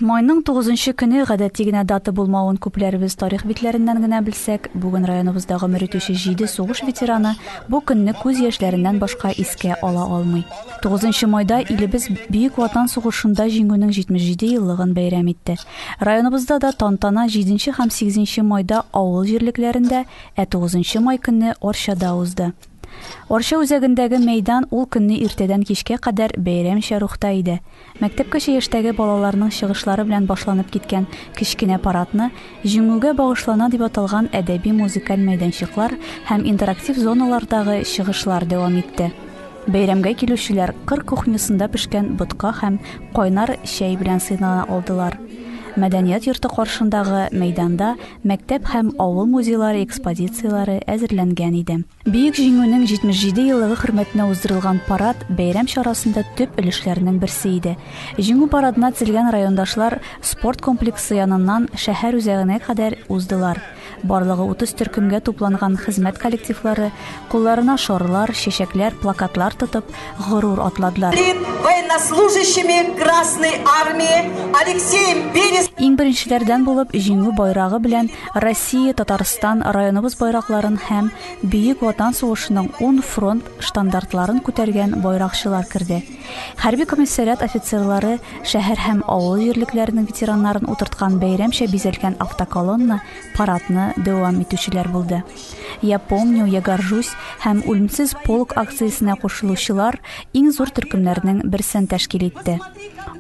Майның тугызынчы көне гадәти генә дата булмавын күпләребез тарих битләреннән генә белсәк, бүген районыбызда гомер итүче җиде сугыш ветераны бу көнне күз яшьләреннән башка искә ала алмый. Тугызынчы майда илебез Бөек Ватан сугышында Җиңүнең 77 еллыгын бәйрәм итте. Районыбызда да тантана җиденче һәм сигезенче майда авыл җирлекләрендә, ә тугызынчы май көнне Арчада узды. Арча үзәгендәге мәйдан ул көнне иртәдән кичкә кадәр бәйрәмчә рухта иде. Мәктәпкәчә яшьтәге балаларның чыгышлары белән башланып киткән кечкенә парадны Җиңүгә багышлана дип аталган әдәби-музыкаль мәйданчыклар һәм интерактив зоналардагы чыгышлар дәвам итте. Бәйрәмгә килүчеләр кыр кухнясында пешкән ботка һәм кайнар чәй белән сыйнана алдылар. Мәдәният йорты каршындагы мәйданда мәктәп һәм авыл музейлары экспозицияләре әзерләнгән иде. Бөек Җиңүнең 77 еллыгы хөрмәтенә уздырылган парад бәйрәм чарасында төп өлешләрнең берсе иде. Җиңү парадына тезелгән райондашлар спорт комплексы яныннан шәһәр үзәгенә кадәр уздылар. Барлыгы 30 төркемгә тупланган хезмәт коллективлары, кулларына шарлар, чәчәкләр, плакатлар тотып, горур атладылар. Военнослужащими Красной Армии Алексеем Берез. Иң беренчеләрдән булып җиңү байрагы белән Россия, Татарстан, районыбыз байракларын һәм Бөек Ватан сугышының 10 фронт штандартларын күтәргән байракчылар керде. Хәрби комиссариат офицерлары шәһәр һәм авыл җирлекләренең ветераннарын утырткан бәйрәмчә бизәлгән автоколонна парадны дәвам итүчеләр булды. Я помню, я горжусь һәм Үлемсез полк акциясенә кушылучылар иң зур төркемнәрнең берсен тәшкил итте.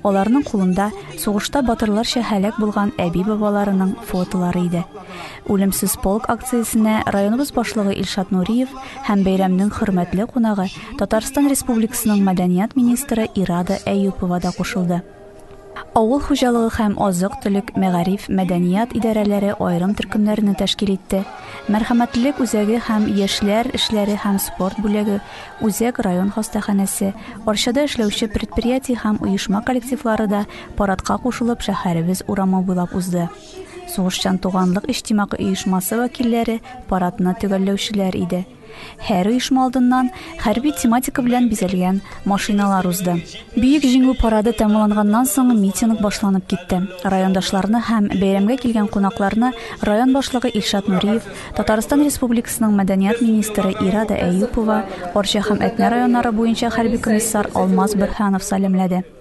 Аларның кулында сугышта батырларча һәлак булган әби-бабаларының фотолары иде. Үлемсез полк акциясенә районыбыз башлыгы Илшат Нуриев һәм бәйрәмнең хөрмәтле кунагы Татарстан Республикасының мәдәният министры Ирада Әюпова да кушылды. Авыл хуҗалыгы һәм азык-төлек, мәгариф, мәдәният идарәләре аерым төркемнәрне тәшкил итте. Мәрхәмәтлелек үзәге һәм яшьләр эшләре һәм спорт бүлеге, үзәк район хастаханәсе, Арчада эшләүче предприятие һәм оешма коллективлары да парадка кушылып шәһәребез урамы буйлап узды. Сугышчан туганлык иҗтимагый оешмасы вәкилләре парадны төгәлләүчеләр иде. Һәр оешма алдыннан хәрби тематика белән бизәлгән машиналар узды. Бөек җиңү парады тәмамланганнан соң митинг башланып китте. Райондашларны һәм бәйрәмгә килгән кунакларны район башлыгы Илшат Нуриев, Татарстан Республикасының мәдәният министры Ирада Әюпова, Арча һәм Әтнә районнары буенча хәрби комиссар Алмаз Бөрһанов сәламләде.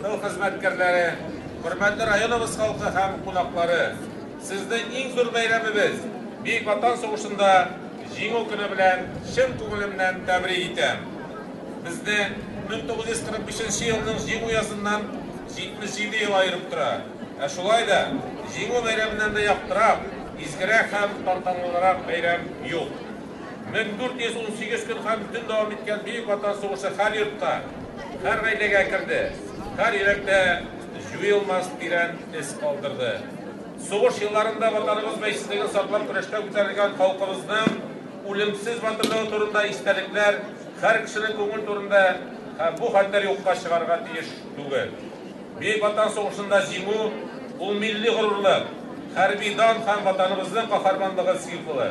Тыл хезмәткәрләре, хөрмәтле районыбыз халкы һәм кунаклары, сезне иң зур бәйрәмебез, Бөек Ватан сугышында Җиңү көне белән чын күңелемнән тәбрик итәм. Безне 1945 нче елның Җиңү языннан 77 ел аерып тора. Ә шулай да Җиңү бәйрәменнән дә яктырак, изгерәк һәм тантанлырак бәйрәм юк. 1418 көн һәм төн дәвам иткән Бөек Ватан сугышы һәр йортка, һәр гаиләгә керде, һәр йөрәктә җуелмас тирән эз калдырды. Сугыш елларында Ватаныбыз бәйсезлеген саклап көрәштә күтәрелгән халкыбызның үлемсез батырлыгы турында истәлекләр һәр кешенең күңел түрендә һәм бу хәлләр юкка чыгарга тиеш түгел. Бөек Ватан сугышында җиңү, ул милли горурлык, хәрби дан һәм Ватаныбызның каһарманлыгы символы.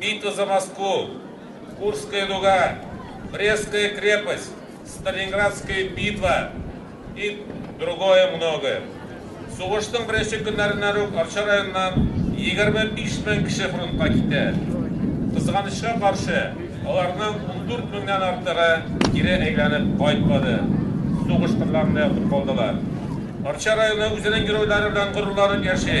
Битва за Москву, Курская дуга, Брестская крепость, Сталинградская битва и другое многое. Сугышның беренче көннәреннән үк Арча районыннан 25 мең кеше фронтка китә. Кызганычка каршы, аларның ундүрт меңнән артыгы кире әйләнеп кайтмады, сугыш кырларында ятып калдылар. Арча районы үзенең геройлары белән горурланып яши.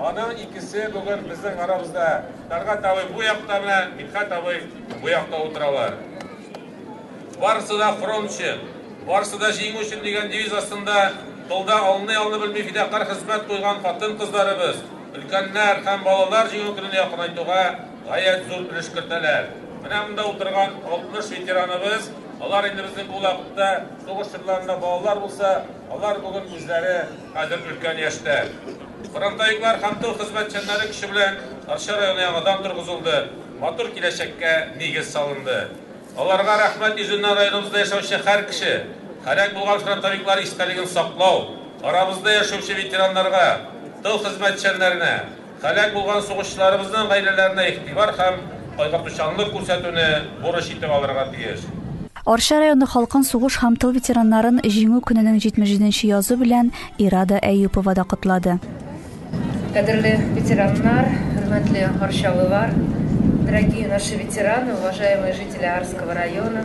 Аның икесе бүген безнең арабызда. Тәлгать абый бу якта белән Мидхәт абый бу якта утыралар. Барысы да фронт өчен, барысы да җиңү өчен дигән девиз астында тылда алны-ялны белми фидакарь хезмәт куйган хатын-кызларыбыз, өлкәннәр һәм балалар Җиңү көнен якынайтуга гаять зур өлеш кертәләр. Менә монда утырган 60 ветераныбыз, алар инде безнең бу вакытта сугыш чорларында балалар булса, алар бүген үзләре Хәзер өлкән яшьтә. Фронтовиклар һәм тыл хезмәтчәннәре көче белән Арча районы яңадан торгызылды, матур киләчәккә нигез салынды. Аларга рәхмәт йөзеннән районыбызда яшәүче һәр кеше, һәлак булган фронтовиклар истәлеген саклау, арабызда яшәүче ветераннарга, тыл хезмәтчәннәренә, Һәлак булган сугышчыларыбызның гаиләләренә игътибар һәм кайгыртучанлык күрсәтүне бурыч итеп алырга тиеш. Арча районы халкын сугыш һәм тыл ветераннарын Җиңү көненең 77 нче язу белән Ирада Әюпова да котлады. Кадерле ветераннар, хөрмәтле арчалылар, дорогие наши ветераны, уважаемые жители Арского района!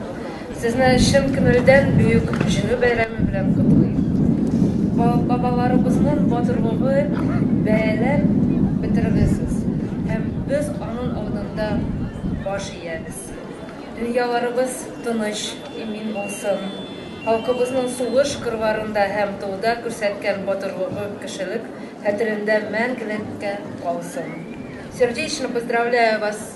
Сезне чын күңелдән Бөек Җиңү бәйрәме белән котлыйм. Бабаларыбызның батырлыгы бәяләп бетермисез. Һәм без аның алдында баш иябез. Дөньяларыбыз тыныч, имин булсын. Халкыбызның сугыш кырларында һәм тылда күрсәткән батырлыгы, кешелек хәтерендә мәңгелеккә калсын. Сердечно поздравляю вас!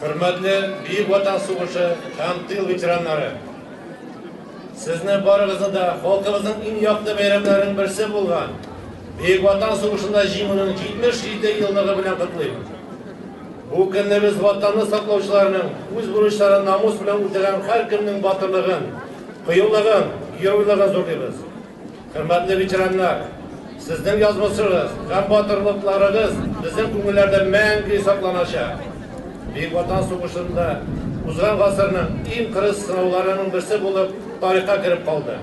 Хөрмәтле Бөек Ватан сугышы һәм тыл ветераннары! Сезне барыгызны да халкыбызның иң якты бәйрәмнәренең берсе булган Бөек Ватан сугышында җиңүнең 77 еллыгы белән котлыйм. Бу көнне без Ватанны саклаучыларның үз бурычларын намус белән үтәгән һәркемнең батырлыгын, кыюлыгын, геройлыгын зурлыйбыз. Хөрмәтле ветераннар! Сезнең язмышыгыз һәм батырлыкларыгыз безнең күңелләрдә мәңге сакланачак. Бөек Ватан сугышында узган гасырның иң кырыс сынауларының берсе булып тарихка кереп калды.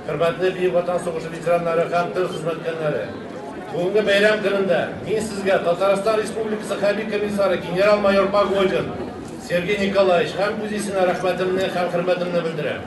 Хөрмәтле Бөек Ватан сугышы ветераннары һәм тыл хезмәткәрләре! Бүгенге бәйрәм көнендә мин сезгә Татарстан Республикасы хәрби комиссары генерал-майор Погодин Сергей Николаевич һәм үз исемнән рәхмәтемне һәм хөрмәтемне белдерәм.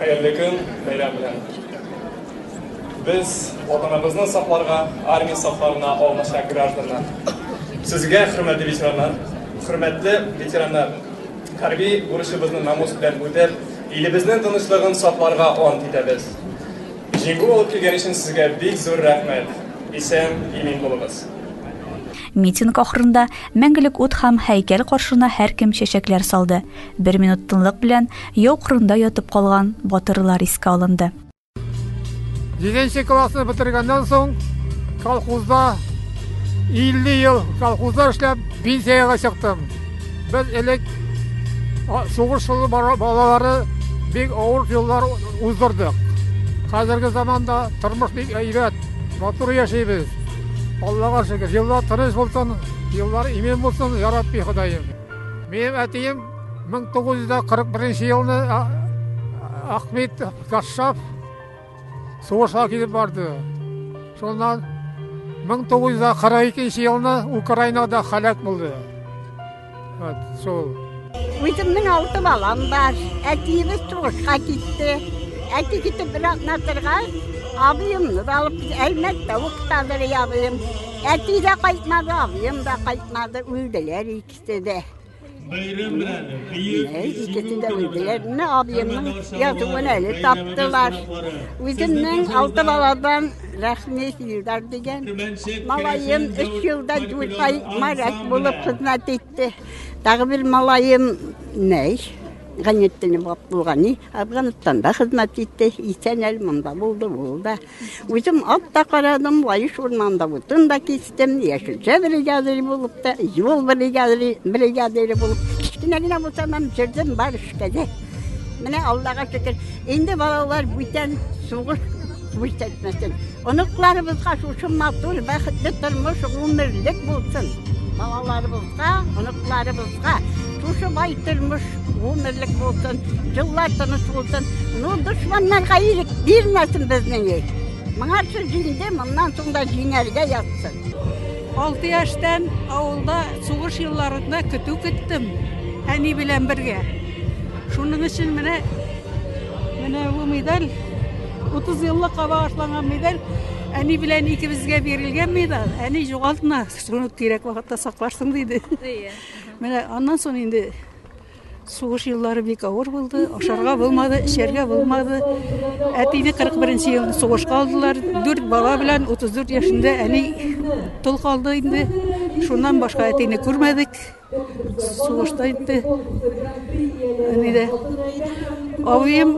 Хәерле көн, бәйрәм белән! Без Ватаныбызны сакларга армия сафларына алмашак гражданнар. Сезгә, хөрмәтле ветераннар, хөрмәтле ветераннар, хәрби бурычыбызны намус белән үтәп, илебезнең тынычлыгын сакларга ант итәбез. Җиңү алып килгән өчен сезгә бик зур рәхмәт! Исән, имин булыгыз! Митинг ахырында Мәңгелек ут һәм һәйкәл каршына һәркем чәчәкләр салды. Бер минут тынлык белән яу кырында ятып калган батырлар искә алынды. Җиденче классны бетергәннән соң колхозда 50 ел колхозда эшләп пенсиягә чыктым. Без элек сугыш балалары бик авыр еллар уздырдык. Хәзерге заманда тормыш бик әйбәт, матур яшибез. Аллага шөкер, еллар тыныч булсын, еллар имин булсын, я Рабби Ходаем. Минем әтием 1941 елны Ахмет Кашшаф сугышка килеп барды. Шуннан 1942 елны Украинада халәк булды. Вот, шул. Үземнең алты балам бар. Әтиебез сугышка китте. Әти китеп бер атна торгач, абыемны да алып, Әлмәттә укытадыр абыем. Әти дә кайтмады, абыем да кайтмады, үлделәр икесе дә. Бәйрәм белән Икесе дә үлделәр. Менә абыемның язуын әле таптылар. Үземнең алты баладан Рәхмет Илдар дигән малаем өч елда дүрт ай моряк булып хезмәт итте. Тагы бер малаем Нәй Ганеттинов булган, Афганстанда хезмәт итте. Исән әле монда булды, булды. Үзем ат та карадым, Лаеш урманында утын да кистем, яшелчә бригадиры булып та, юл бригадиры, бригадиры булып, кечкенә генә булсам һәм җөрдем бар эшкә дә. Менә Аллага шөкер, инде балалар бүтән сугыш күрсәтмәсен. Оныкларыбызга шушы матур, бәхетле тормыш гомерлек булсын. Балаларыбыз Балаларыбызга, оныкларыбызга шушы бай тормыш гомерлек булсын, еллар тыныч булсын. Ну, дошманнарга ирек бирмәсен безнең ил. Моңарчы җиңде, моннан соң да җиңәргә ятсын. Алты яшьтән авылда сугыш елларында көтү көттем, әни белән бергә. Шуның өчен менә менә бу медаль 30 еллык аба ашланган медаль әни белән икебезгә бирелгән медаль. Әни югалтмас. Шуны кирәк вакытта сакларсың диде. Әйе. Менә аннан соң инде сугыш еллары бик авыр булды. Ашарга булмады, эчәргә булмады. Әтине 41 елны сугышка алдылар. Дүрт бала белән 34 яшендә әни тол калды инде. Шуннан башка әтине күрмәдек. Сугышта инде әнидә абыем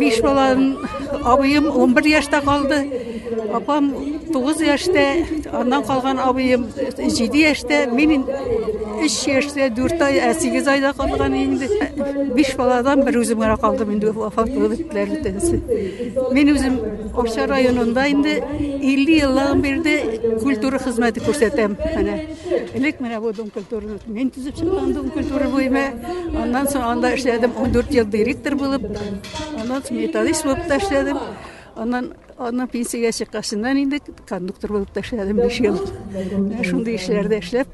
биш баланың абыем он бер яшьтә калды апам тугыз яшьтә аннан калган абыем җиде яшьтә мин өч яшьтә дүрт ай ә сигез айда калган инде биш баладан бер үзем генә калдым инде вафат булып беттеләр бөтенесе мин үзем арча районында инде илле еллыгын бирде культура хезмәте күрсәтәм менә Элек менә бу дом культураны мин төзеп чыккан дом культура буеме. Аннан соң анда эшләдем 14 ел директор булып. Аннан соң металлист булып та эшләдем. Аннан аннан пенсиягә чыккачыннан инде кондуктор булып та эшләдем 5 ел. Менә шундый эшләрдә эшләп,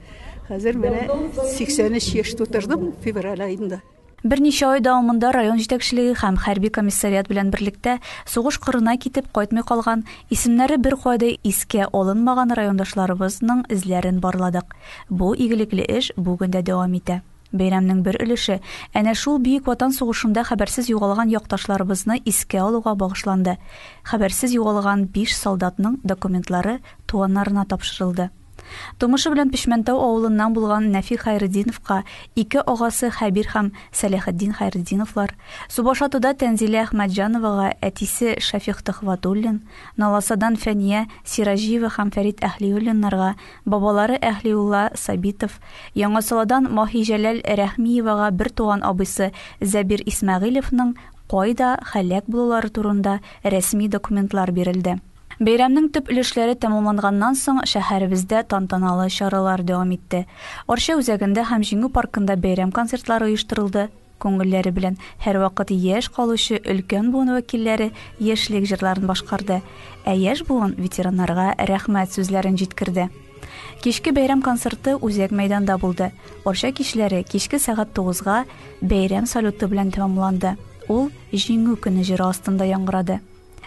хәзер менә 83 яшь тутырдым февраль аенда. Берничә ай дәвамында район җитәкчелеге һәм хәрби комиссариат белән берлектә сугыш кырына китеп кайтмый калган, исемнәре беркайда искә алынмаган райондашларыбызның эзләрен барладык. Бу игелекле эш бүген дә дәвам итә. Бәйрәмнең бер өлеше әнә шул Бөек Ватан сугышында хәбәрсез югалган якташларыбызны искә алуга багышланды. Хәбәрсез югалган биш солдатның документлары туганнарына тапшырылды. Тумышы белән Печмәнтау авылыннан булган Нәфи Хәйретдиновка ике агасы Хәбир һәм Сәләхетдин Хәйретдиновлар, Субашатуда Тәнзилә Әхмәтҗановага әтисе Шәфикъ Төхвәтуллин, Наласадан Фәния Сираҗиева һәм Фәрит Әһлиуллиннарга, бабалары Әһлиулла Сабитов, Яңасаладан Маһиҗәләл Рәхмиевага бертуган абыйсы Зәбир Исмәгыйлевның кайда һәлак булулары турында рәсми документлар бирелде. Бәйрәмнең төп өлешләре тәмамланганнан соң, шәһәребездә тантаналы чаралар дәвам итте. Арча үзәгендә һәм Җиңү паркында бәйрәм концертлары оештырылды. Күңелләре белән һәрвакыт яшь калучы өлкән буын вәкилләре яшьлек җырларын башкарды, ә яшь буын ветераннарга рәхмәт сүзләрен җиткерде. Кичке бәйрәм концерты Үзәк мәйданда булды. Арча кичләре кичке сәгать тугызга бәйрәм салюты белән тәмамланды. Ул Җиңү көне җыры астында яңгырады.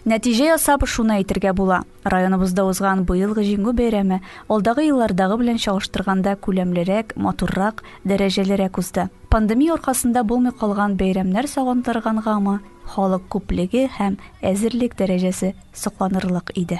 Нәтиҗә ясап, шуны әйтергә була, районыбызда узган быелгы Җиңү бәйрәме алдагы еллардагы белән чагыштырганда күләмлерәк, матуррак, дәрәҗәлерәк узды. Пандемия аркасында булмый калган бәйрәмнәр сагындыргангамы, халык күплеге һәм әзерлек дәрәҗәсе сокланырлык иде.